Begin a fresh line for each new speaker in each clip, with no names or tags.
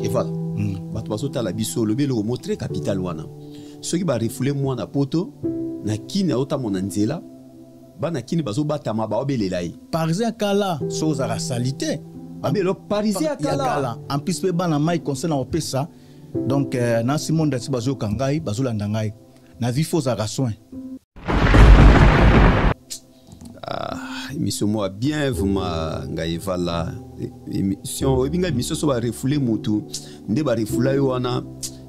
eval mm. bato bazotala biso olobi eloko mo très capital wana soki barefoule mwana poto na kini aotamo na nzela bana kini bazobatama baobelela ye parisien kala
so ozalaka salite abelo
parisien kala en plus mpe bana mai
conseil na kopesa donc euh, na simon dati bazoyoka ngai bazolanda ngai na vie fo ozalaka soin
Ah, émission moi bien vraiment ngai vala émission oyebi ngai émission so barefoule motu nde barefoula yo wana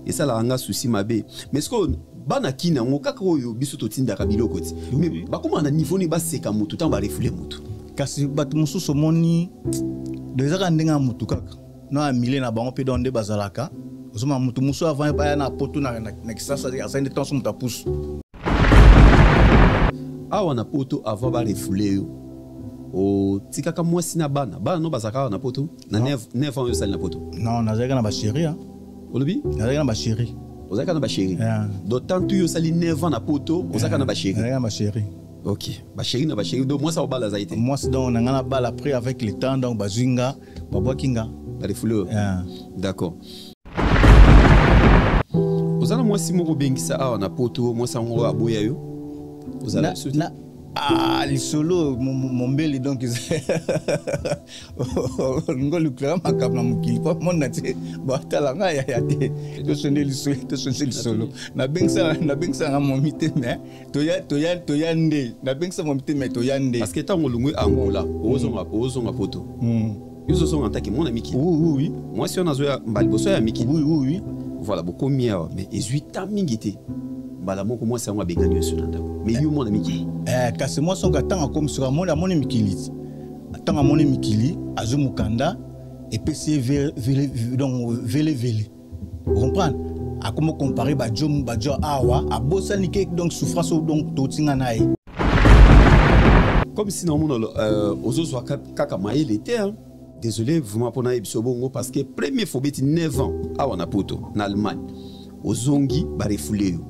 esalaka nga souci mabe mais sikoyo bana kini yango kaka oyo biso totindaka biloko ti mais bakóma na niveau nini baseka motu ntango barefoule motu kasi bato
mosusu omoni ezaka ndenge ya motu kaka na ya mile na bango mpe donc nde bazalaka ozomona moto mosusu avandi baya na poto na kisasa azali nde ntango so moto apusu
awa na poto ava barefule yo otikaka mwasi na bana bana no bazalaka awa na poto na 9 ans oyo osali na poto non nazalaka na bachéri
olobi nazalaka na
bachéri
ozalaka na bachéri
donc tantu yo osali 9 ans na poto ozalaka na bachéri nazalaka na bachéri
ok bachéri
na bachéri donc mwasi akobala azali te mwasi donc na ngai nabala
après avec le temps donc bazwi nga babwaki nga na lifuli oyo yeah.
d'accord oza na mwasi moko obengisa awa na poto mwasi yango aboya yo ozala na,
Ah, lisolo mombeli donc olingi olukelaka makambo na mokili mpo mona te batala nga yaya te tosonde lisolo nabengisaka nga momi te mais toya toya toya nde nabengisa mwa mitema toya nde parce que ntango olongwe
angola ozonga mm. ozonga poto mm. yo ozozonga ntaki mwana mikili oui mwasi wana
azoya
mbala liboso ya mikili oui oui voilà
bokomi
awa mais ezwi ta mingi te mbala moko mwasi yango abengani yoso na ndako mais yo mwana mikili eh, kasi mwasi yango
ntango akomi soki amoni amoni mikili ntango amoni mikili azwi mokanda epesi ye donc velevele comprendre akomi comparer bajo bajo awa abosani ke donc souffrance oyo donc totinga na ye
comme si naomona euh, ozozwa kaka mayele te désolé vraiment mpo nayebi biso bongo parce que premier fobeti 9 ans awa na poto na allemagne ozongi barefule yo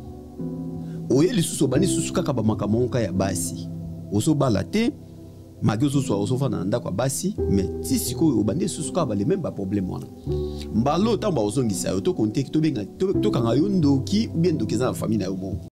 oye lisusu obandi lisusu kaka bamakambo moka ya basi ozobala te maki ozozwa ozofanda na ndako ya basi me ti sikoyo obandi esusu kaka bale meme baproblème wana mbala oyo ntango bakozongisa yo tokonteki tokanga yo ndoki ubie ndoki eza na famille na yo moko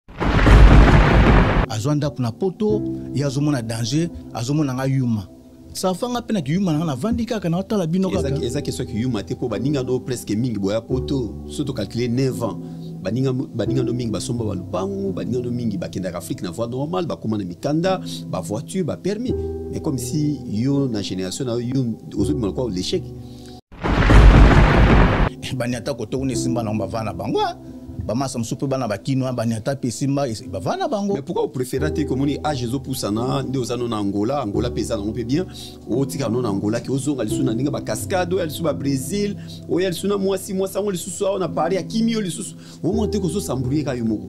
azwa
ndako na poto ye azomona danger azomona nga yuma safanga mpe na kiyuma nanga navandi kaka na otala bino kaka eza ke soki yuma te
mpo baninga no presque mingi boya poto so tocalcule 9 ans baninga baninga no mingi basomba ba lupangu baninga no mingi bakendaka afrique na voie normale bakoma na mikanda ba voiture ba permis mais comme si yo na génération na yo ozobima lokola l'échec
baniata koto kuna esimba nango bavaa na bango ah. bamasa mosusu mpe bana bakinois baniata mpe esimba bavaa na bango pourquoi opréféra te
komoni age ezopusana nde oza no na angola angola mpe eza nango mpe bien otikala no na angola ke ozonga lisusu na ndenge bacascade oya lisusu babrésil oya lisusu na mwasi mwasi yango lisusu awa na paris akimi yo lisusu omona te kozosambrouye ka yo moko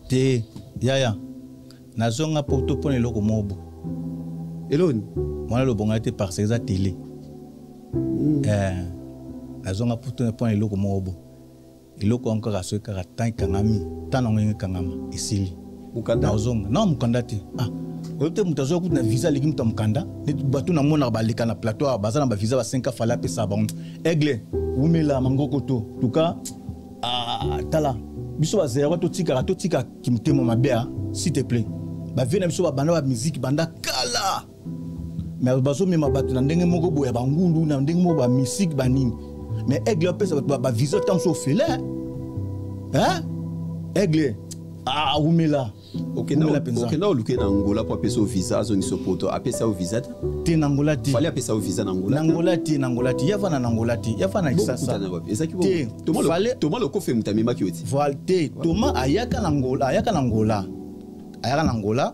te
yaya nazonga poto mpo na eloko mobo eloni
mwana lobonga
te parce eza tele mm. eh, nazonga poto mpo na eloko mobo eloko yango kaka soki kaka temps ekangami temps nango yango ekangama esili mokanda ozonga
na mokanda
te ah oyebi te moto azwa kutu na visa aleki moto ya mokanda neti bato namonaka baleka na plateau awa baza na bavisa ba 5 fale apesa bango aigle wumela mangoko to tuka ah, tala biso bazeyaka totikaka totika kimotema mabe a ah, s'il te plaît bavie na biso babanda bamiziki banda kala mais bazomema bato na ndenge moko boya bangulu na ndenge moko bamisike banini mais aigle apesa bato bavisa ntango so ofele aigle awumela
okenda oluke na angola mpo apesa yo visa azongisa yo poto apesa yo visa te te na angola te
fali apesa yo visa na angola na
angola te na angola te
yavana na angola te yavana kisasa te
toma lokofe moto amemaki yo ti te toma
ayaka na angola ayaka na angola ayaka na angola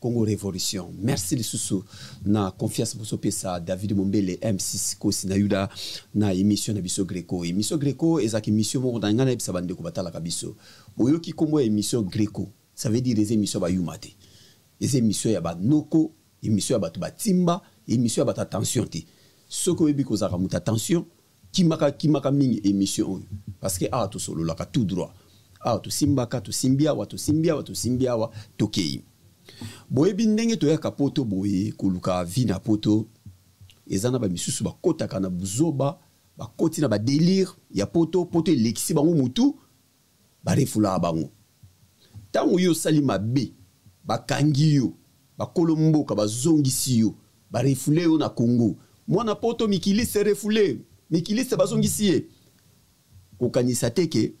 Congo Revolution. Merci lisusu na confiance boso pesa David Mombele M6 kosi na Yuda na émission na biso Greco. Émission Greco ezaki émission moko na ngana ebisa bande ko batala kabiso. Oyoki kombo ya émission Greco. Ça veut dire les émissions ba yumate. Les émissions ya ba noko, émission ya batu ba timba, émission ya batu attention te. Soko yebi ko zaka muta attention, kimaka kimaka mingi emission oyo parce que awa tosololaka tout droit awa tosimbaka tosimbi awa tosimbi awa tosimbi awa tokei boyebi ndenge toyaka poto boye koluka vie na poto eza na bamisusu bakotaka na buzoba bakoti na badelire ya poto poto elekisi bango motu ba refoulaka bango tango yo osali mabe bakangi yo bakolo mboka bazongisi yo ba refoule yo na Congo mwana poto mikiliste refoule mikiliste bazongisi ye kokanisa te ke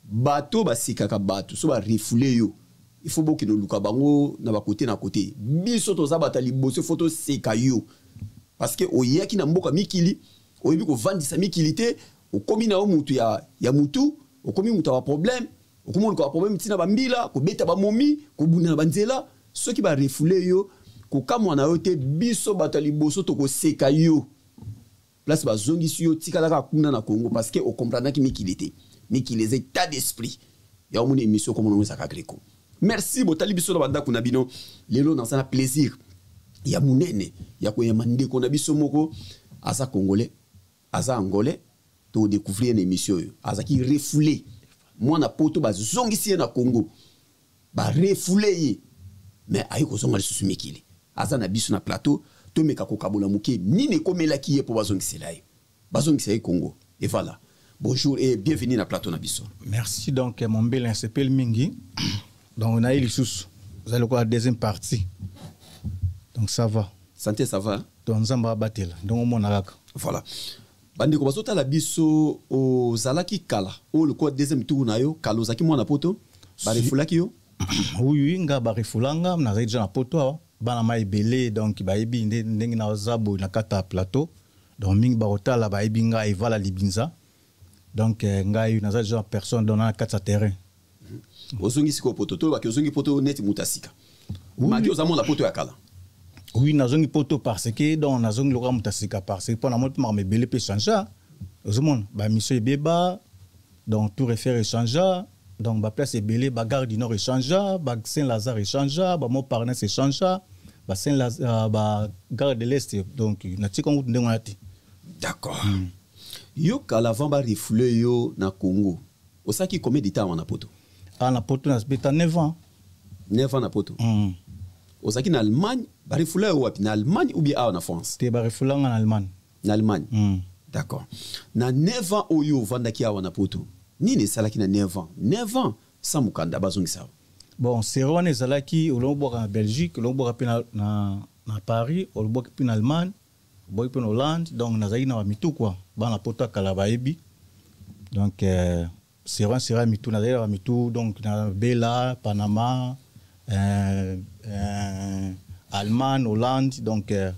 bato basekaka bato so ba refoule yo il faut bokende oluka bango na bakote na kote biso toza bata liboso fo toseka yo parceke oyaki na mboka mikili oyebi kovandisa mikili te okomi na yo mutu ya, ya mutu okomi mutu ya baproblème okomi oluka baproblème ntina bambila kobeta bamomi kobunda na banzela soki barefoule yo kokamwa na yo te biso bato ya liboso tokoseka yo place bazongisi yo tikalaka kuna na congo parce que okomprenaki mikili te mikili eza état d'esprit ya omona émission okomona ngo ezaka greco merci botali biso na bandako na bino lelo naza na plaisir ya monene ya koyamba ndeko na biso moko aza congolais aza angolais to découvrir na émission oyo azalaki refoule mwana poto bazongisi ye na congo barefoule ye mais aye kozonga lisusu mikili aza na biso na plateau tomeka kokabola moke nini ekomelaki ye mpo bazongisela ye bazongisa ye congo e voilà bonjour et bienvenue na plateau na biso merci donc
mombele nasepeli mingi donc naye lisusu eza lokola deuxième partie donc ça va santé ça va
donc nzambe abatela
ndenge omona kaka voilà
bandeko bazotala biso ozalaki kala oyo lokola deuxième tour na yo kala ozalaki mwana poto barefulaki yo oui nga
barefula nga nazali deja na poto awa bana ma ebele donc bayebi nde ndenge naza boye na kata plateau donc mingi bakotala bayebi nga evala libinza donc eh, ngai naza genre personne donc na kati ya terrain mhm.
ozongi sikoyo poto tolobaki ozongi poto neti moto ya sika maki oza mona poto ya kala oui
nazongi poto parce que donc nazongi lokola moto ya sika parce que mpo na moi mpe makambo ebele mpe changea ozomona bamisio ebeba donc tour efere echangea donc baplace ebele bagare du nord echangea ba saint lazare echangea bamont parnese echangea ba saint euh, ba gare de l'est donc natika ngutu ndenge wana te d'accord mm.
yo kala avant ba refoule yo na congo osalaki combien de temps awa na poto awa ah, na poto nasbeta
9 ans 9 ans na
poto mm. ozalaki na allemagne barefoula yo wapi na allemagne ou bien awa na france te barefoula nga na allemagne
na allemagne mm.
d'accord na 9 ans oyo ovandaki awa na poto nini esalaki na 9 ans 9 ans sans mokanda bazongisa awa bon sere wana
ezalaki olongo bwaka na belgique olongo bwaka mpe na, na, na paris olobwaki mpe na allemagne Boyi mpe na Hollande, donc nazalaki na bamitukwa bana poto ya kala bayebi donc euh, sera sera mitu nazalaki na bamitu donc na bela panama euh, euh, allemagne hollande donc euh,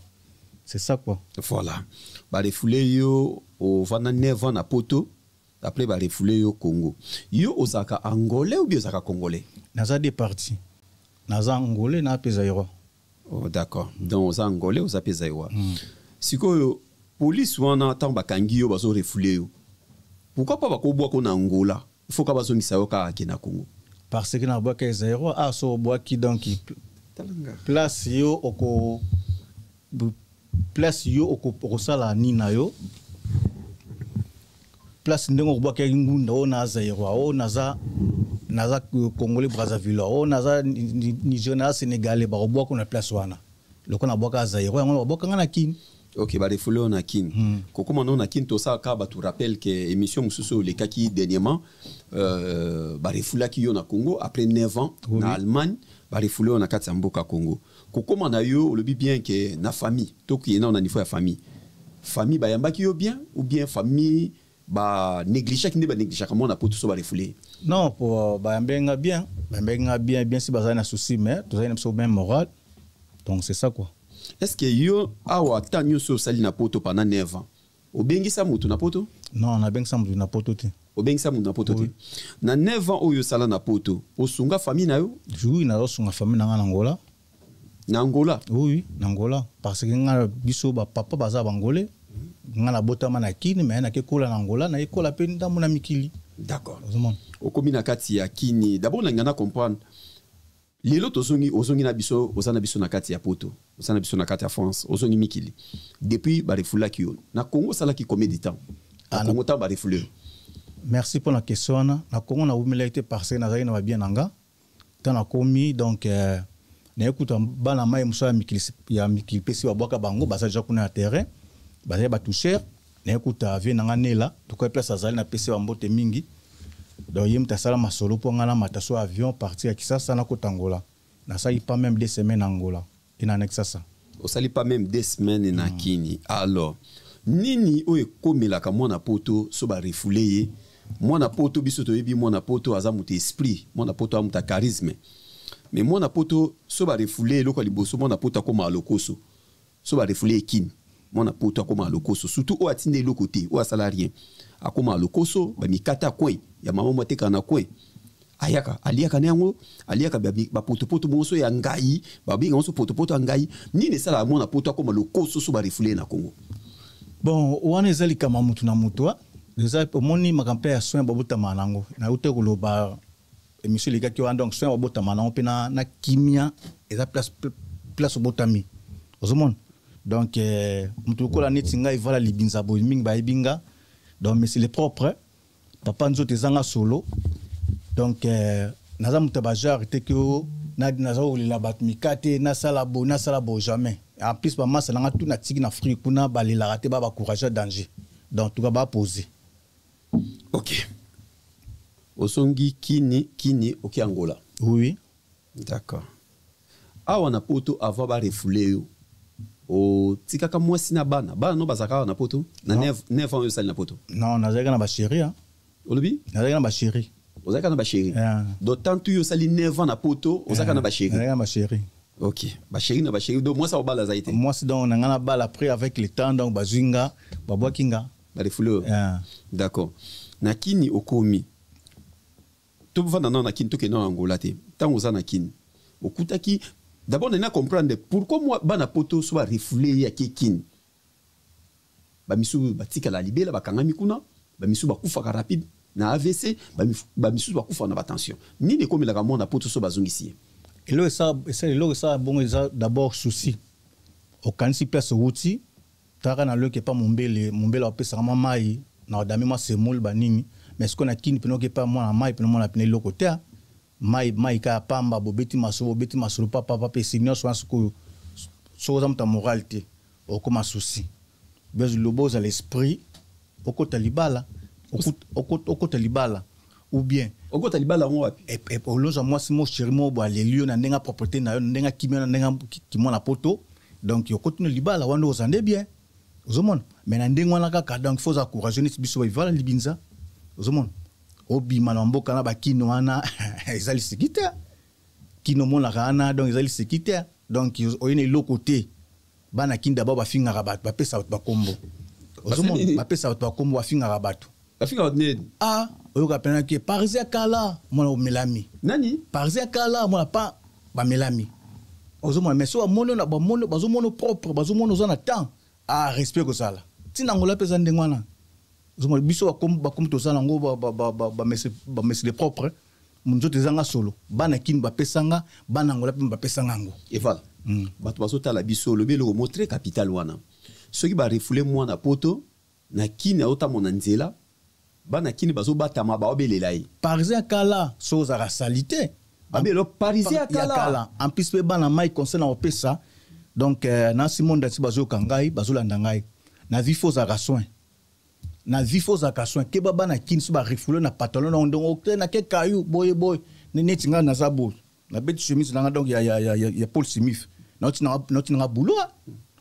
c'est ça quoi voilà
barefoule yo ovanda 9 ans na poto après barefoule yo congo yo ozalaka angolais ou bien ozalaka congolais naza de parti
naza angolais na mpe zaïrois Oh, d'accord
donc oza angolais oza mpe zaiwa mm. sikoyo polise wana ntango bakangi yo bazo refoule yo pourkui mpo bakobwako na angola ifo ka bazongisa yo kaka ke na congo parce que nabwaki
ya zairois aso ah, obwaki donc place yo oko place yo okosala nini na yo place ndenge okobwakaki ngunda oyo na zairoi oyo naza naza congolais brazzaville oyo naza nigeria naza sénégalais bakobwaka na place wana lokola nabwaka zairoi yango bakobwaka ngai na kini ok barefoule oyo
na kin hmm. kokóma nao na kin tosala kaka bato rappel ke émission mosusu oyo olekaki dernièrement euh, barefoulaki yo na congo après 9 ans oui. na allemagne barefoule oyo na kati ya mboka congo kokoma na yo olobi bien ke na famille tokiye nao na niveau ya famille famille bayambaki yo bien ou bien famille ba négligaki nde ba négligaka mwana po toso barefoule non po euh,
bayambaki nga bien bayambaki nga bien bien si bazali na souci mais tozali na biso même moral donc c'est ça quoi est ce que yo
awa ata nyonso osali na poto pendant 9 ans obengisa moto na poto non nabengisa moto
na poto te obengisa moto na poto te
na 9 ans oyo osala na poto osunga famille na yo oui nazosunga
famille na ngai na angola na angola
oui na angola
parce que ngai biso bapapa baza bangole ngai nabotama na kini mai nakekola na angola nayekola mpe ndambo na mikili d'accord
okomi na kati ya kini dabord nalinga na comprendre Lelo tozongi ozongi na biso oza na biso na kati ya poto oza na biso na kati ya France ozongi mikili depuis ba refoulaki yo na Congo salaki combien de temps na ah, Congo temps ba refoulé merci pour
la question wana na Congo na wumelaki te parce que nazali na ba bien nanga tant na komi donc euh, na ekuta bana mai musa ya mikili ya mikili pesi babwaka bango baza déjà kuna ya terrain bazali ba toucher naye kuta vie na nga nela tuka place azali na pese ba mbote mingi donc ye moto asala masolo mpo nga namata so avion parti ya kisasa nakota angola nasali pas meme deux semaines angola ena na kisasa osali pas meme
deux semaines na mm. kini alors nini oyo ekomelaka mwana poto so barefoule ye mwana poto biso toyebi mwana poto aza moto esprit mwana poto aza moto ya charisme mais mwana poto so barefoule eloko ya liboso mwana poto akoma lokoso so ba refoule ye kin mwana poto akomaka lokoso surtout oyo atinda eloko te oyo asala rien akomaka lokoso bamikata coin ya mama mwa atekaka na coin ayaka aliaka na yango aliaka bapotopoto ba bonso ya ngai babenga bonso potopoto ya ngai nini esalaka mwana poto akoma lokoso so barefoule ye na congo bon
wana eza likama motu na motu eza omoni makambo mpe ya soin babotamaka na yango nauta koloba emission elekaki wana donc soin obotama nango mpe na, na kimia eza place, place obotami ozomona donc eh, moto lokola neti ngai vala libinza boye mingi bayebi nga donc mais c'est le propre papa nzoto ezanga solo donc eh, naza moto ya bajare te ke naza kolela bato mika te nasala bo nasala bo jamais en plus bamasa nanga tu natiki na afrique kuna balelaka te ba bacourage ya danger donc tuka bapose ok
osongi kini kini oke angola oui d'accord awa na poto avant barefoule yo otikaka mwasi na bana bana no bazalaka awa na poto na 9 ans oyo osali na poto non nazalaki na bachéri
olobi
nazalaki na bachéri
ozalaka na bachéri
donc tantu yo osali 9 ans na poto ozalaka na bachéri nazalaki na bachéri
ok bachéri
na bachéri donc mwasi akobala azali te mwasi donc na ngai nabala
après avec le temps donc bazwi nga babwaki nga ba refouleur yeah.
d'accord na kini okomi tofanda nao na kini tokende nao na angola te ntango oza na kini okutaki d'abord nani acomprendre pourquoi mwa bana poto so barefoule ye ake kini bamisusu batikala libela bakangami kuna bamisusu bakufaka rapide na avc bamisusu bakufaka na batension nini ekomelaka mwana poto so bazongisi ye eloko
esala bongo eza d'abord souci okanisi place owuti Kaka na loke pa mombele, mombele apesaka mwa mai na odame mwa semoule ba nini, mais siko na kini pene oke pa mwana mai pene mwana pene eloko te, mai mai kaka pamba bobeti masolo bobeti masolo pa pa pa pe se nionso wana sikoyo soki oza moto ya morale te okoma souci. Bozala esprit okota libala okota libala ou bien okota libala yango
wapi eh, eh, olonza mwasi
mo sheri mo bo aleli yo na ndenge aproprete na yo na ndenge akimi yo na ndenge kimwana poto donc okoti no libala wana oza nde bien ozomona me na ndenge wana kaka donc fo oza courageux neti biso bavivala libinza ozomona obima na mboka na bakino wana eza liseki te kino omonaka wana donc eza liseki te donc oye na eloko te bana kin d'abord bafingaka bato bapesa bato bakombo ozomona bapesa bato bakombo bafingaka bato bafinga
bato nini a oyoka mpena
ke parisi ya kala mwana omelami nani parisi ya
kala mwana
pa bamelami ozomona mais so bamoni na bamoni bazomona propre bazomona oza na temps a respect kozala ntina ngola mpe eza ndenge wana ozomona biso bakombo toza nango bamesile propre nzoto ezanga solo bana kini bapesanga bana ngola mpe bapesanga yango eval mm.
bato bazotala biso olobi eloko mo très capital wana soki barefule mwana poto na kini aotamo na nzela bana kini bazobatama baobelela ye parisien kala
so ozalaka salite babelo
parisien ya kala en plus mpe bana mai
conseil na kopesa donc euh, na simon dati bazoyoka ngai bazolanda ngai na vie fo ozalaka soin na vie fo ozalaka soin keba bana kin so barefoule na pantalon na ndongo oke na ke kayu boye boye neti ngai naza boye nabeti chemise na ngai donc ya, ya, ya, ya, ya paul simif nauti na ngai bulo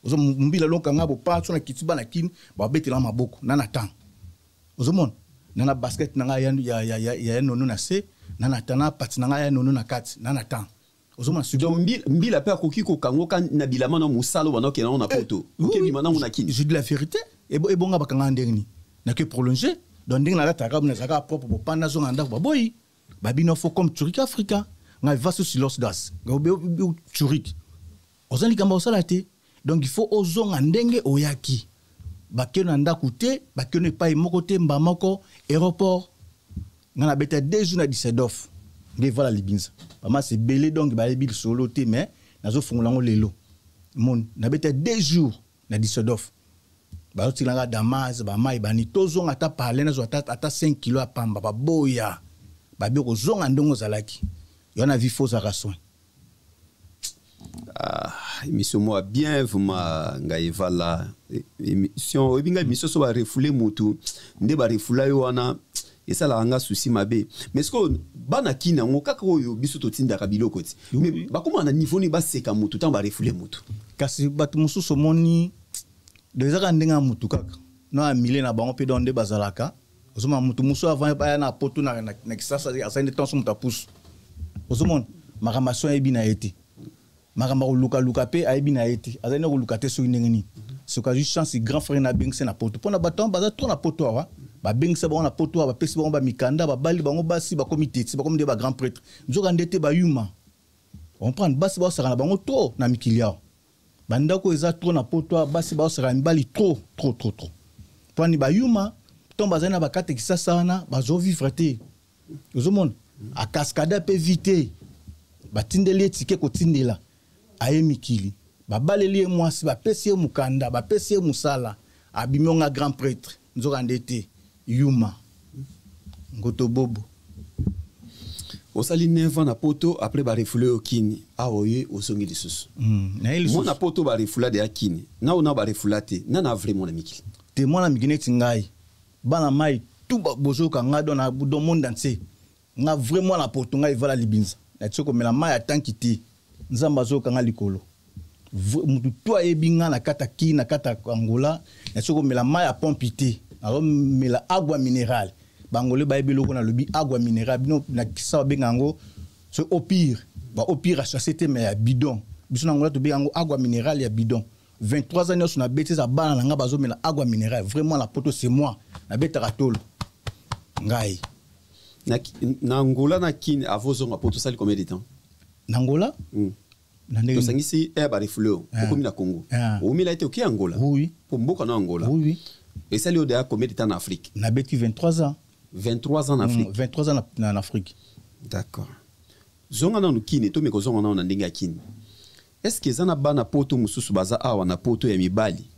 ozo mbila lonka ngai bopa so na kiti bana kin babetela maboko na na temps ozomona na na basket na ngai ya, ya, ya, ya, ya nono na se na na temps na pati na ngai ya nono na kati na na temps ozomona suki donc mbila, mbila pe
akoki kokangoka na bilama na mosala oyo bandakokenda yango na eh, poto okebima nango na kini je dis la vérité
ebonga bakanga ndenge nini nake prolonge donc ndenge nalataka nazalaka propre bopanda azonga na ndako baboyi babino fo comme turike afrika ngai vaso silos das turike oza likambo osala te donc il faut ozonga ndenge oyaki bakeno na ndako te bakeno epai moko te mba moko aéroport nga na beta deux jours na disedof nde vala libinza bamasi ebele donc bayebi lisolo te mais nazofungola yango lelo moni na beta deux jours na disedof bazotikilanga damas bamai bani tozonga ata parle nazwa ata 5 kilo ya pamba baboya babi kozonga ndenge ozalaki yo na vifo ozalaka soin
Ah, émission moi bien vraiment ngai evala émission oyebi ngai émission so barefoule motu nde barefoula yo wana esalaka nga souci mabe mais sikoyo bana kini yango kaka oyo biso totindaka biloko ti mais bakómaka na niveau nini baseka motu ntango barefoule motu kasi bato
mosusu omoni do eza kaka ndenge ya motu kaka na ya milie na bango mpe donc nde bazalaka ozomona moto mosusu avant baya na poto na kisasa asali nde ntango so moto apusu ozomona makambo aso ayebi na ye te makambo akolukaluka mpe ayebi na ye te azali nde koluka te soki ndenge nini soki azwi chance grand frère na abengisa na poto mpo na bato yango baza trop na poto awa babengisa bango na poto awa bapesi bango bamikanda babali bango basi bakomi teti bakomi nde bagrand prêtre nzoka nde te bayuma comprendre basi baosaka na bango trop na mikili awa bandako eza trop na poto awa basi baosaka mibali trop trop trop trop pwani bayuma ntango bazali na bakate kisasa wana bazovivre te ozomona akaskada mpe vi te batindeli ye tike kotindela aye mikili babaleli ye mwasi bapesi ye mokanda bapesi ye mosala abimi onga grand pretre nzokande te Yuma. Ngoto bobo. osali
9 ans na poto après barefule yo kini awa ah, oye ozongi lisusu hmm, mwana poto barefula deya kini nao nao barefula te nana vrai mwana mikili te mwana mikili neti
ngai bana mai tu bozoyoka ngai don na don monde entier nga vrai mwana porto nga evala libinza na tiko mela mai ya tanki te nzambe azoyoka nga likolo mutu to ayebi nga na kata ki na kata angola na tiko mela mai ya pompi te nazomela agua mineral bangole bayebi eloko nalobi agua mineral bino na kisa babenga yango so opire baopire achasse te mai ya bidon biso na angola tobenga yango agua mineral ya bidon 23 ans nionso na beti eza bana na ngai bazomela agua mineral vraiment na poto c'est moi nabetaka tolo ngai
na, na angola na
kin
avozonga po tosali combien de temps na
angola
mm. tosangisi air barefoule oyo ah. okomi na congo ah. omela ete oke angola oui. po mboka na
angola
oui. esali
oyo deya
combien de temps na afrique nabeti 23
ans 23 ans na
afrique mm, 23 ans na, na afrique
d'accord
zonga nanu kine tomeka ozonga nanu na ndenge ya kine Est-ce que eza na bana poto mususu baza awa na poto ya mibali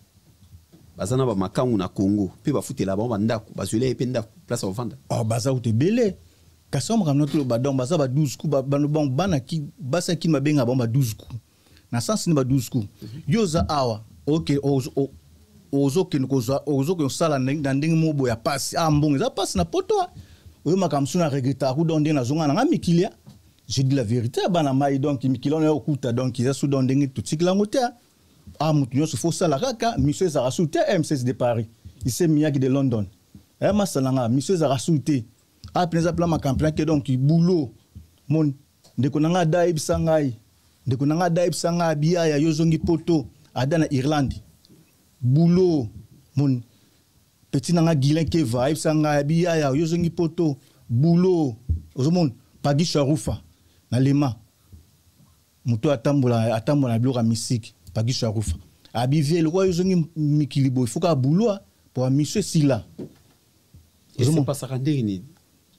baza na bamakangu na congo mpe bafutela bango bandako bazwela ye mpe ndako place ya kovanda oh, baza kutu ebele
kasi oyo makambo natoloba donc baza ba 12 ku bango bana basi ya kini babenga bango ba 12 ku na sense ni ba 12 ku mhm. yo oza awa oke ozokende kozwa ozokende kosala na ndenge moko boye ya mpasi a ah, mbongo eza mpasi na poto oyo makambo so na regretaka ku donc ndenge nazonga na ngai mikilia je dis la vérité ya bana mai donc mikili wana ya kokuta donc eza sudan ndenge totikela yango te ah moto nyonso fo osala kaka miso ezalaka su te eh, mcs de paris ise miyaki de london eh, masala nga miso ezalaka su te ah mpena eza mpela makampena ke donc boulot moni ndeko na ngai ada ayebisa ngai ndeko na ngai ada ayebisa ngai abiyaya yo ozongi poto ada na irlande boulot moni petit nanga Guilain Keva ayebisa nga ya biyaya yo zongi poto boulot ozomona Pagi Sharufa na Lema moto atambola atambola na biloko ya misiki Pagi Sharufa abivie lokola yo zongi mikili boye foka boulot po mission esila
epasaka ndenge nini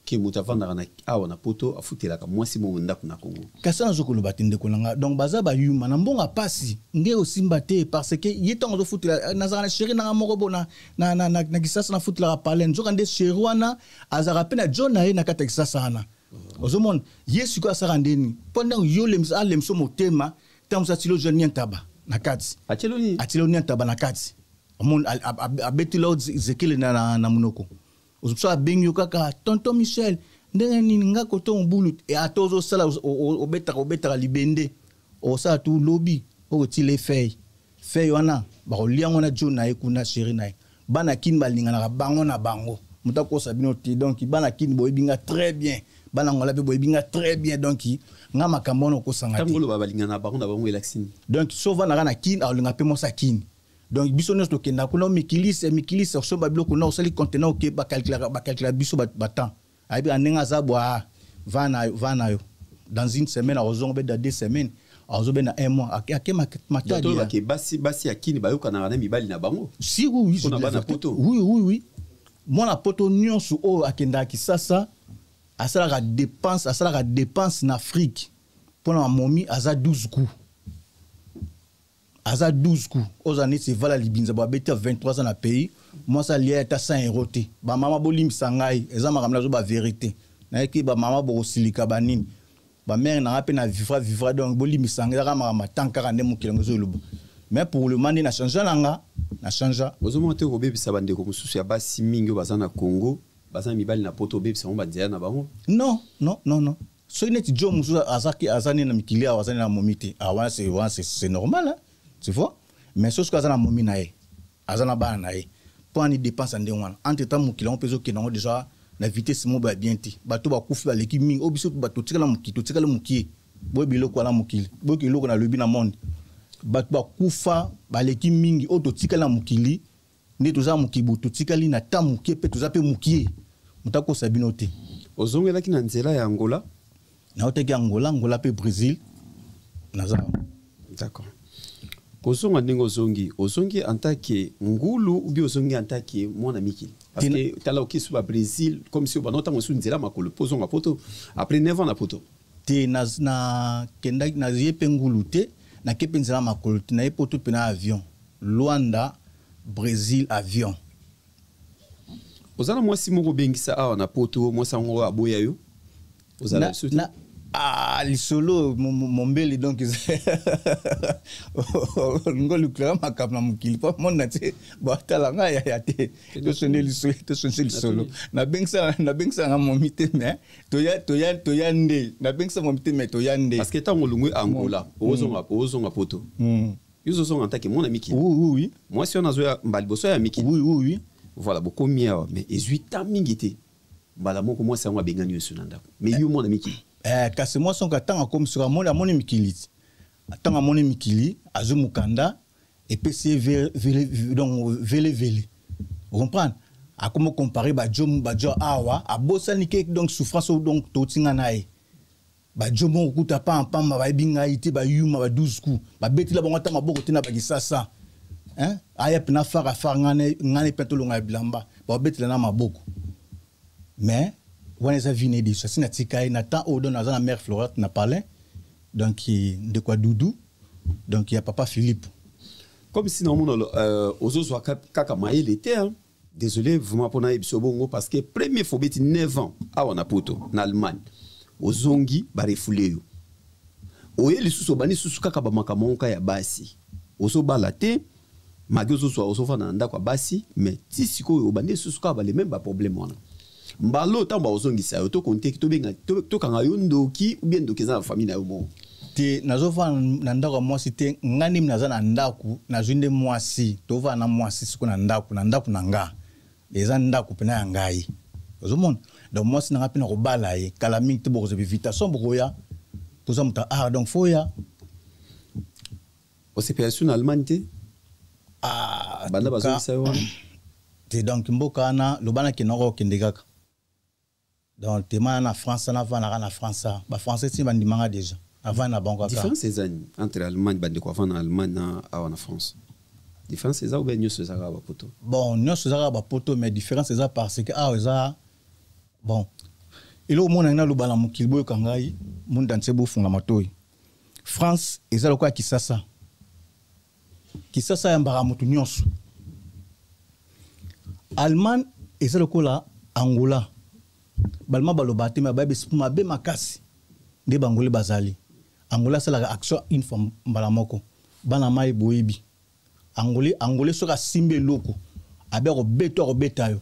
ke moto avandaka na awa na poto afutelaka mwasi mongo ndako na kongo kasi nazo koloba te
ndeko na nga donc baza bayuma na mbongo apasi nde osimba te parce que ye ntango azofutela eh, nazalaka na sheri nanga moko bo na, na, na, na, na kisasa nafutelaka palen nzoka nde sheri wana azalaka mpe na john na ye na kati ya kisasa wana mhm. ozomona ye sikoyo asaka ndeni mpo ntango yo alemso motema ntango mosu atilo john niantaba na kati atilo niantaba na kati abeti lo zekele na, na, na monoko ozo abengi yo kaka tonton michel ndenge nini nga koto mobulu e, ata ozosala obetaka obetaka libende okosala tu lobi okotile fei fei wana bakolia yango na jo na ye kuna sheri na ye bana kini balinganaka bango na bango moto akosa bino te donk bana kini boyebi nga très bien bana ngola mpe boyebi nga très bien donk nga makambo wana okosanga te
donc so ovandaka na
kini akolinga mpe mwasi ya kini donc biso nyonso tokenda kuna omikilisa mikilisa osomba biloko na osali contenant oke bakalkulaka bakalkula biso batemp ayebi na ndenge aza bwa va na yo va na yo dans une semaine akozonga obeda deux semaines azobenda un mois ake matadiake basi basi
ya kini bayokanaka na mibali na bango si oui
oui oui oui mwana poto nyonso oyo akendaka kisasa asalaka dépense asalaka dépense na afrique mpo na mamomi aza 12 coups aza 12 coups oza neti evala libinza bo abeti ya 23 ans na pays mwasi alia ata 100 euro te bamama bolimbisa ngai eza makambo nazo baverité nayeki bamama bokosilika banini bamere nanga mpe na vivra vivra donc bolimbisa ngai ezaka makambo atang kaka nde mokili yango ezoloba mais pour le moment nde na changea na nga na changea ozomona te kobebisa
bandeko mosusu ya basi mingi oyo baza na congo baza na mibali na poto obebisa yango banzela na bango non non non
non soki neti jo mosusu azaki aza nde na mikili awa aza nde na momi te ah, wana wana c'est normal hein? tu vois mais soki aza na momi na ye aza na bana na ye mpo ani dépense ya ndenge wana entre temps mokili yango mpe ezokende yango déjà na vitesse moko ya bien te bato bakufi baleki mingi oyo biso bato totikala mokili totikala mokie boye biloko wana mokili boye eloko nalobi na monde bato bakufa baleki mingi oyo totikali na mokili nde toza mukibu totikali na temps mukie mpe toza mpe mukie moto akosa bino te ozongelaki na
nzela ya angola naotaki
angola angola mpe brésil naza d'accord
kozonga ndenge ozongi ozongi antake ngulu ubi ozongi antake mwana mikili parce que tala okisi ba brésil comme si obanda ntango mosusu nzela makolo mpo ozonga poto après 9 ans na poto te
nakendaki naye mpe ngulu te nake mpe nzela makolo te naye poto mpe na avion Luanda Bresil avion. Oza
na mwasi moko bengisa awa na poto mwasi yango aboya yo ozala biso te
ah lisolo mombele donc olingi olukela makambo na mokili mpo mona te batala ngai yaya te tosonde lisolo tosonde lisolo nabengisa nga momi te me toya nde nabengisa momi te me toya nde parce que ntango olongwe
angola ozonga poto yo ozozonga ntake mwana miki oui, oui, oui. mwasi wana
azoya
mbala liboso ya miki oui, oui, oui. voilà
bokomi
awa mais ezwi ta mingi te mbala moko mwasi yango abengani yo esu na ndako mais yo mwana miki eh, kasi mwasi yango
ntango akomi soki amoni amoni mikili ti ntango amoni mikili azwi mokanda epesi ye velevele ocomprendre akomi okompare bajo bajo awa abosani ke donc souffrance oyo donc touti nga na ye bajo moko kuta pa mpamba bayebi ngai te bayuma ba 12 coup babetela bango ata maboko te na bakisasa hein? aya pena fara fara ngane ngane pena tolonga ya bilamba babetela na maboko mais wana eza vie na ye deja si natika ye na temps oyo don aza na mare florate na palin donc ndeko ya dudu donc ya papa philippe comme si
naomona euh, ozozwa kaka mayele te hein? Désolé vraiment pona yebisa bongo parce que premier fois beti 9 ans awa na poto na Allemagne ozongi ba refoule yo oye lisusu obandi susu kaka bamakambo moko ya basi ozobala te magi ozozwa ozofanda na ndako ya basi mais ti sikoyo obandi lisusu kaka balememe baproblème wana mbalo ntango bakozongisa yo tokonteki tobenga tokanga yo ndoki ubie ndoki eza na famille na yo moko te nazofanda
na ndako ya mwasi te nga ndimi naza na ndako nazwi nde mwasi tofanda na mwasi siko na ndako na ndako na nga eza ndako mpena ya ngai ozomona donc mwasi na nga mpe nakobala ye kala mingi te bokozwa bivitation bokoya toza moto ya art donc foya
osepela su na allemagne te ah, banda bazongisa yo wana te donc
mboka wana loba na kenaka okende kaka donc tema na france wana avandaka na france a bafrançais ti bandimanga déjà avanda na bango différence eza nini entre
allemagne bandeko avanda na allemagne na awa na france différence eza obe nyonso eza kaka bapoto bon nyonso eza kaka
bapoto mais différence eza parce que awa eza bon eloko omonaki naloba na mokili boyoka ngai munda nse bofunga matoi France eza lokola Kisasa. Kisasa ya mbaka moto nyonso. Allemagne eza lokola Angola. Balma baloba te mais bayebi esprima be makasi nde bangole bazali. Angola asalaka action une fois mbala moko. Bana mai boyebi. Angolais angolais soki asimbi eloko abe akobeta akobeta yo.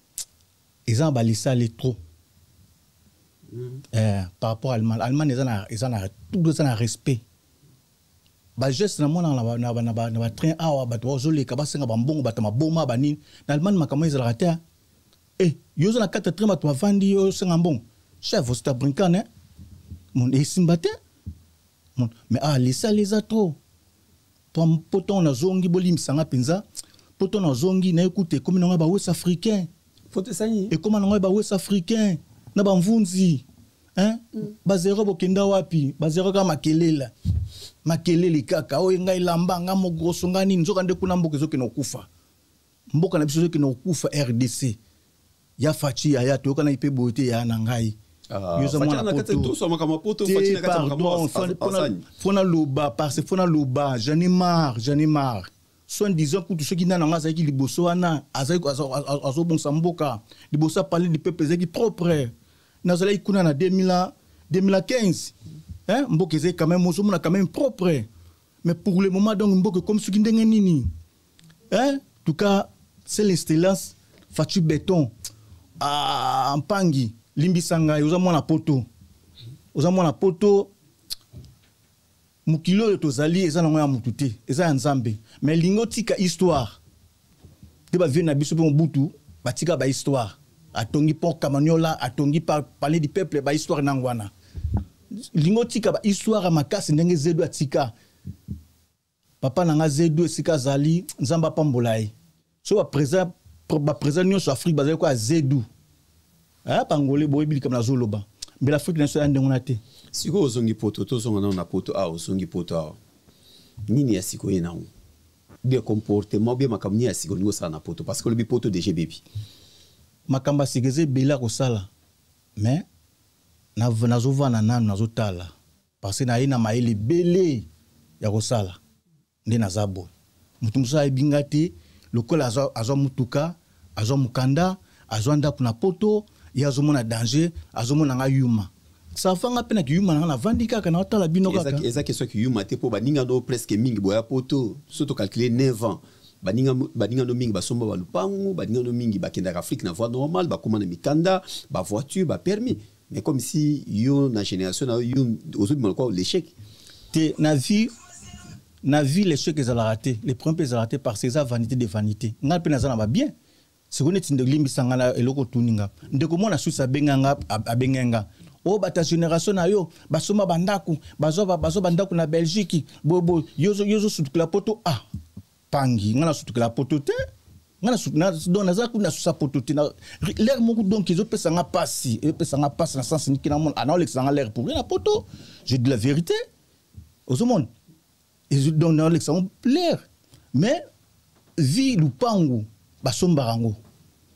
eza na balisale trop mm. eh, par rapport à allemagne allemagne eza na eza na tout eza na respect bageste namonaka na batrain awa bato bazoleka basenga bambongo bato maboma banini na allemagne makambo ezalaka te e yo oza na kati ya train bato bavandi yo osenga mbongo chef osita brinkane eh? mon esimba te mais awa lisala eza trop Pom po tongo na zongi bolimbisa nga penza po tongo na zongi naye kutu ekomi na nga ba west africain foto esani
ekoma na nga ba west
africain na ba mvunzi hein mm. ba zero bokenda wapi ba zero ka makelela makelele kaka oyo ngai lamba nga mogroso nga nini nzoka nde kuna mboka ezokende kokufa mboka na biso soki na kokufa rdc ya faci yaya toyokanaki mpe boye te yaya na ngai
ah, fo naloba
parce fo naloba j'en ai marre j'en ai marre soit disant kutu soki nani yango azalaki liboso wana azobongisa mboka liboso apale du peuple ezalaki propre nazalaki kuna na 2015 mboka ezalaki quand même ozomona quand même propre mais pour le moment donc mboka ekomi soki ndenge nini hein tout cas c'est l'excellence Fatshi Beton ah mpangi limbisa ngai oza mwana poto oza mwana poto mokili oyo tozali eza nango ya motu te eza ya nzambe me lingi otika histoire nde bavie na biso mpe mobutu batika bahistoire atongi port kamaniola atongi palais du peuple bahistoire nango wana lingi otika bahistoire ya makasi ndenge zedo atika papa na nga zedu esika azali nzambe apambola ye so baprésent baprésent nyonso afrique bazali koya zedu eh, bangole boyebi likambo nazoloba mbela afrique na biso ya ndenge wana te sikoyo ozongi poto
tozonga nano na poto awa ozongi poto awa nini ya sikoyo ye nango bia comportement bia makambo nini ya sikoyo olingi osala na poto parce que olobi poto deja ebebi makambo
ya sika eza ebele akosala mais nazovanda nano nazotala Parce que naye na mayele ebele ya kosala nde naza boye. Moto mosusu ayebi nga te lokola azwa, azwa mutuka, azwa mukanda, azwa ndako na poto, ye azomona danger, azomona nga yuma safanga mpe na kiyuma nanga navandi kaka naotala bino kaka eza question kiyuma te
mpo baninga no presque mingi boya poto so tocalcule 9 ans baninga no mingi basomba balupangu baninga no mingi bakendaka afrique na voie normale bakóma na mikanda bavoiture bapermis mais comme si yo na génération na yo ozobima lokola l'échec te na vie
na vie l'échec ezalaka te le problème mpe ezalaka te parce que eza vanité de vanité ngai mpe naza na babien sikoyo neti nde olimbisa ngai na eloko otuni nga ndeko mwana susi abenga nga abenga nga oyo oh, bata génération na yo basomba bandako bazwa bandako na belgique boyeboye yo ozosutukela poto ah pangi nga nasutukela poto te donc naza kuna nasusa poto te lere moko donc ezopesa nga mpasi ezopesa nga mpasi na sense niki namona anaolekisa nga lere pourri na poto je de la vérité ozomona donc naolekisa ngo lere mais vi lupangu basombaka yango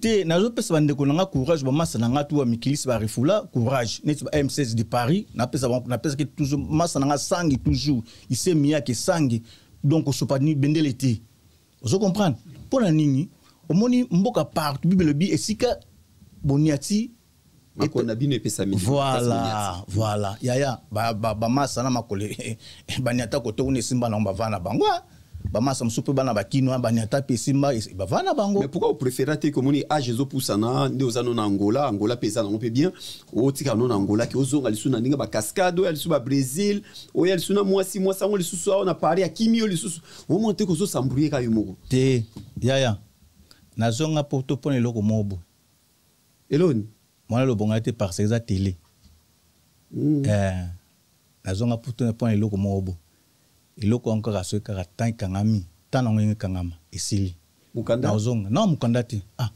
te
nazopesa bandeko na nga courage bamasa na nga tuwa mikilisi barefula courage neti ba m16 de paris napesaki toujours masa na nga sangi toujours ise miyake sangi donc osopani bendele te ozo comprendre mpo na nini omoni mboka partout bibele bi esika boniati makolo na
bino epesami voilà voilà
yaya bamasa na makolo eh, eh, baniata koto kuna esimba nango bavaa na bango ah. bamasa mosusu mpe bana bakinois baniata mpe esimba bavaa na bango mais pourquoi opréféra te
komoni age ezopusana nde oza no na angola angola mpe eza nango mpe bien otika no na angola ke ozonga lisusu na ndenge bacascade oya lisusu babrésil oya lisusu na mwasi mwasi yango lisusu awa na paris akimi yo lisusu omona te kozosambrouye ka yo moko te yaya
nazonga poto mpo na eloko moko boye Eloni.
Mwana lobo
ngai te parce que eza tele. Mm. Eh, nazonga puto na pona eloko moko bo. Eloko yango kaka soki kaka temps ekangami, temps nango yenge kangama esili. Mukanda. Nazonga.
Non mukanda
te. Ah.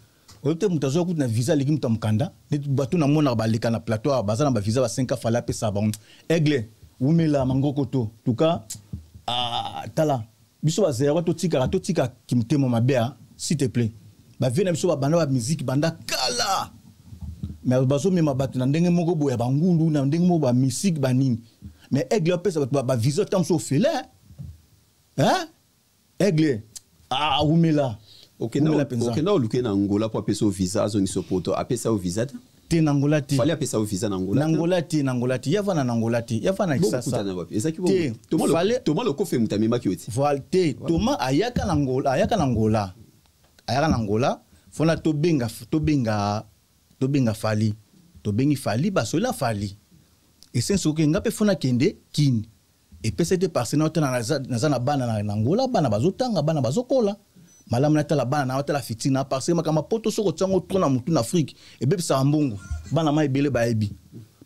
Oyo te moto azwa kutu na visa aleki moto ya mokanda neti bato namonaka baleka na plateau awa baza na bavisa ba 5 fale apesa bango aigle wumela mangoko to tuka ah, tala Biso ba zaïrois to tikaka to tika kimtema mabe a s'il te plaît. Ba vieux na biso ba banda ba musique banda kala. Mais bazo mema bato na ndenge moko boya ba ngulu na ndenge moko ba musique ba nini. Mais aigle pesa bato ba, ba vision tam so fele. Hein? Aigle ah wumela. Okenda
okenda oluke na Angola po apesa visa azongisa poto apesa yo visa te. te na Angola te
fallait apesa yo visa na Angola
na Angola te na Angola te yava na
Angola te yava na Kisasa ezaki te
fallait Thomas Lokofe mutamemaki yo te voilà te Thomas
ayaka na Angola ayaka na Angola ayaka na Angola fona tobenga tobenga tobenga Fally tobengi Fally basola Fally esensi oke nga mpe fona kende kini Epesa ete parce na otala naza na bana na Angola, bana bazotanga, bana bazokola. Malamu natala bana na otala fitina na parce makambo poto soko otiango trop na mutu na Afrique ebebisaka mbongo. Bana mai ebele bayebi.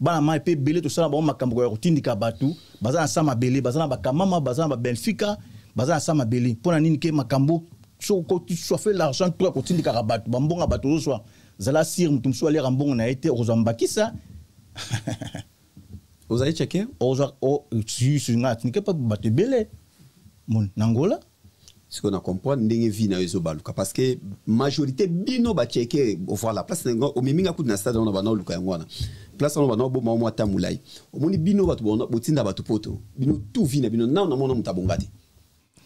Bana mai pe ebele tosala bango makambo ya kotindika bato baza na sa mabele, baza na bakamama, baza na ba Benfica, baza na sa mabele. Mpo na nini ke makambo soko koti soife l'argent trop ya kotindikaka bato bambonga bato ozoswa zala sire moto mosusu aliaka mbongo na ye te okozwa mbakisa
ozali cheke ozwa
nga atinike mpe bato ebele moni na ngola sikoyo na
comprendre ndenge vie na yo ezobaluka parce que majorité bino bacheke voilà place nango omemi nga kutu na stade wana bana oluka yango wana place wana bana oboma yo mwa ta molai omoni bino bato botinda bato poto bino tout vie na bino nao namona moto abonga te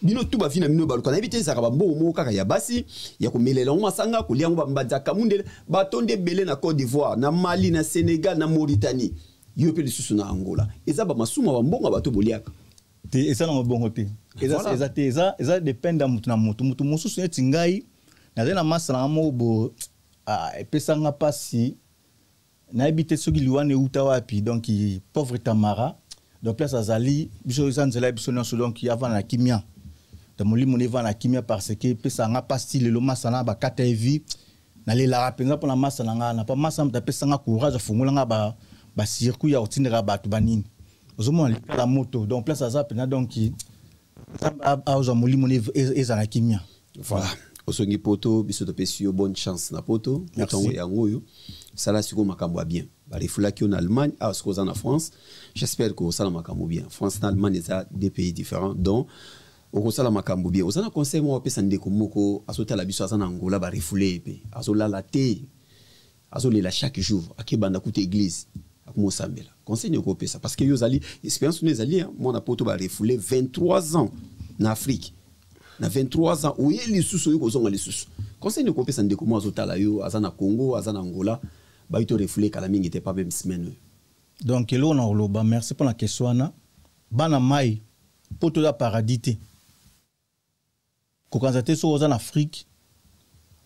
bino tu bavi na bino baluka nayebi te ezalaka bambongo moko kaka ya basi ya komelela yango masanga kolia yango bambanza kamundele bato nde ebele na cote d'ivoire na mali na sénégal na mauritanie yo mpe lisusu na angola eza bamasumu ya bambongo ya bato boliaka te eza na
mabongo te eza te eza depende ya motu na motu motu mosusu neti ngai nazali na masa nanga moko bo ah, epesanga mpasi nayebi te soki liwa ne uta wapi donc pauvre tamara donc place azali biso eza nzela ya biso nyonso donc avanda na kimia donc molimo na evanda na kimia parce que epesaka nga mpasi lelo masa na bakata ye vie nalelaka mpenza mpo na masa na ngai na mpo masa moto apesa nga courage afongola nga ba, ba circuit ya kotindaka bato banini ozomona likala moto donc place aza mpenza donc nzambe azwa molimo e, ezala kimia voilà
osongi poto biso topesi yo bonne chance na poto motango yango oyo sala sikoyo makambo ya bien balefulaki yo na allemagne awa ah, sikoyo oza na france j'espère que osala makambo bien france na allemagne eza deux pays différents donc okosala makambo bien oza na conseil moko apesa ndeko moko azotala biso aza na angola barefule ye mpe azolala te azo lela chaque jour ake banda kuta église akomo sambela conseil niko pesa parce que yo zali expérience ne zali hein. moi na poto ba refoulé 23 ans na Afrique na 23 ans oye lisusu yo kozonga lisusu conseil niko pesa ndeko moi azo tala yo aza na Congo aza na Angola ba ito refoulé kala mingi te pas même semaine oyo donc eloko
na koloba merci mpo na question wana bana mai mpo toza paradis te Kokanisa te soki oza na Afrique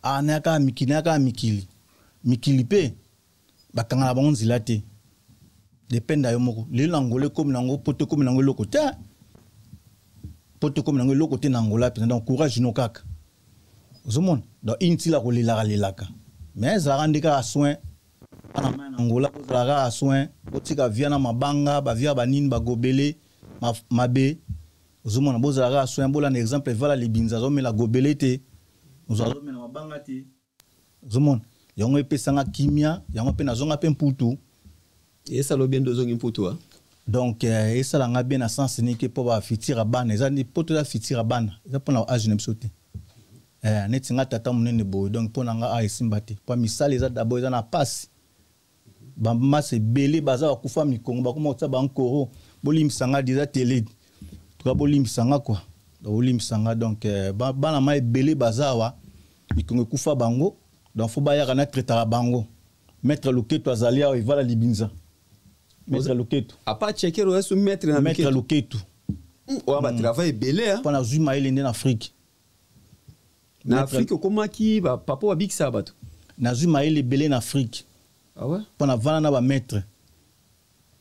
ah na yaka mikili na yaka mikili mikili pe bakanga na bango nzela te dependa yo moko lelo na Angola ekomi na yango poto ekomi na yango eloko te poto ekomi na yango eloko te na Angola mpenza donc courage no kaka ozomona donc intila kolelaka lelaka mais ezalaka nde kaka soin bana mai na Angola kozala kaka soin botika via na mabanga bavia banini bagobele mabe ozomona bozala kaka soin bola na exemple evala libinza azomela gobele te ozwa azomela mabanga te ozomona yango epesanga kimia yango mpe nazonga mpe mputu esala
obien nde ozongi mputu a donc eh,
esala nga bien na sens nike mpo bafitira bana eza mpo toza fitira bana eza mpo na age na biso te eh, neti nga tata monene boye donc mpo na nga a ah, esimba te mpo misala eza dabord eza na pasi ba masse belé baza ba kufa mikongo ba koma kotsa ba nkoro bolim sanga déjà télé tuka bolim sanga quoi donc bolim sanga donc euh, ba bana ma belé baza wa mikongo kufa bango donc faut ba yaka na traitaka bango maître loketo azali awa evala libinza maître loketo apa chekero esu
maître na maître loketo
wa ba hmm.
travail belé hein. pona zuma elende na afrique na afrique okomaki papa oyo abikisaka bato nazwi mayele
ebele na afrique ah ouais? mpo na
vana na bamaître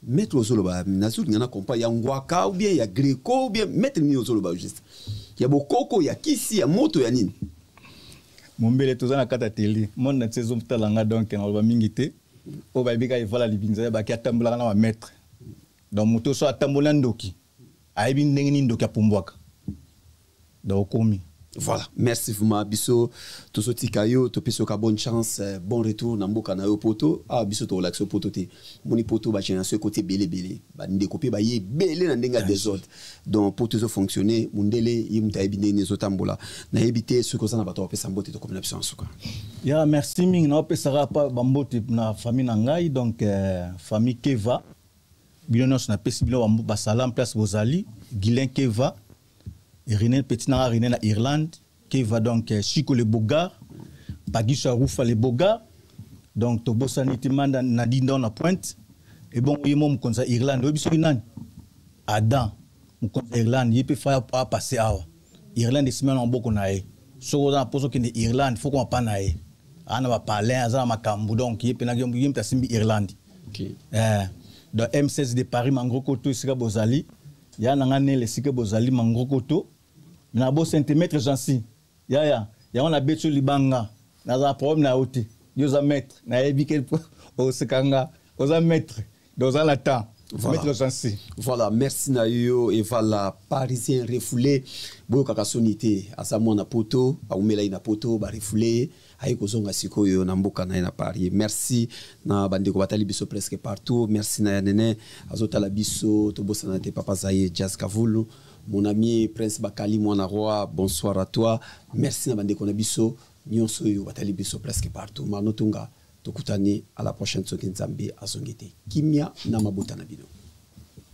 maître ozoloba nazolinga na compa ya ngwaka ou bien ya greco ou bien maître nini ozoloba juste ya bokoko ya kisi ya moto ya nini
mombele toza na kati ya tele monde na ti ezotala nga donk naloba mingi te oyo bayebi kaka evala libinza ya baki atambulaka na bamaître donc moto so atamboli na ndoki ayebi ndenge nini ndoki apumbwaka donc okomi voilà merci
vraiment biso tozotika yo topesi yoka bonne chance euh, bon retour na mboka na yo poto awa ah, biso tokolakisa yo poto te moni poto bagénération ekoti ebele ebele bandeko mpe baye ebele na ndenge ya desordre donc poto ezofonctionne mondele ye moto ayebi ndenge ezotambola nayebi te soki oza na bato bapesa mbote tokomi na biso na suka ya merci
mingi naopesaka pa bambote na famille na ngai donc euh, famille keva bino nyonso napesi bino basalam place bozali guilin keva rene petit nanga rene na irlande keva donc eh, chico le bogar bagiso ya rufa le bogar donc tobosani te manda na dindon na pointe ebongo ye mo mokonzi ya irlande oyebi soki nani adam mokonzi ya irlande ye mpe faya apasse awa irlande esimba na maboko na ye soki oza na mposa okende irlande fo koma pa na ye aa na bapalin aza na makambo donc ye mpenaki ye mpe asimbi irlande okay. eh, donc m16 de paris mangrokoto esika bozali ya na ngai nele esika bozali mangrokoto na bo centimètre jansi yaya yango nabeti yo libanga nazala problème na yo te yo oza maître nayebi ke oseka nga oza maître Doza na temps. Voilà. voilà, merci
Nayo et voilà, parisien refoulé, boyokaka soni te, aza mwana poto, aumela ina poto, ba refoulé, aye kozonga sikoyo na mboka na ye na Paris. Merci na bandeko batali biso presque partout. Merci na ya nene azotala biso, tobosana te papa Zaye Jazz Kavulu. Mon ami Prince Bakali Mwana Roi, bonsoir à toi. Merci na bandeko na biso. nionso oyo batali biso presque partout mano tunga tokutani à la prochaine soki nzambe azongi te kimia na mabota na bino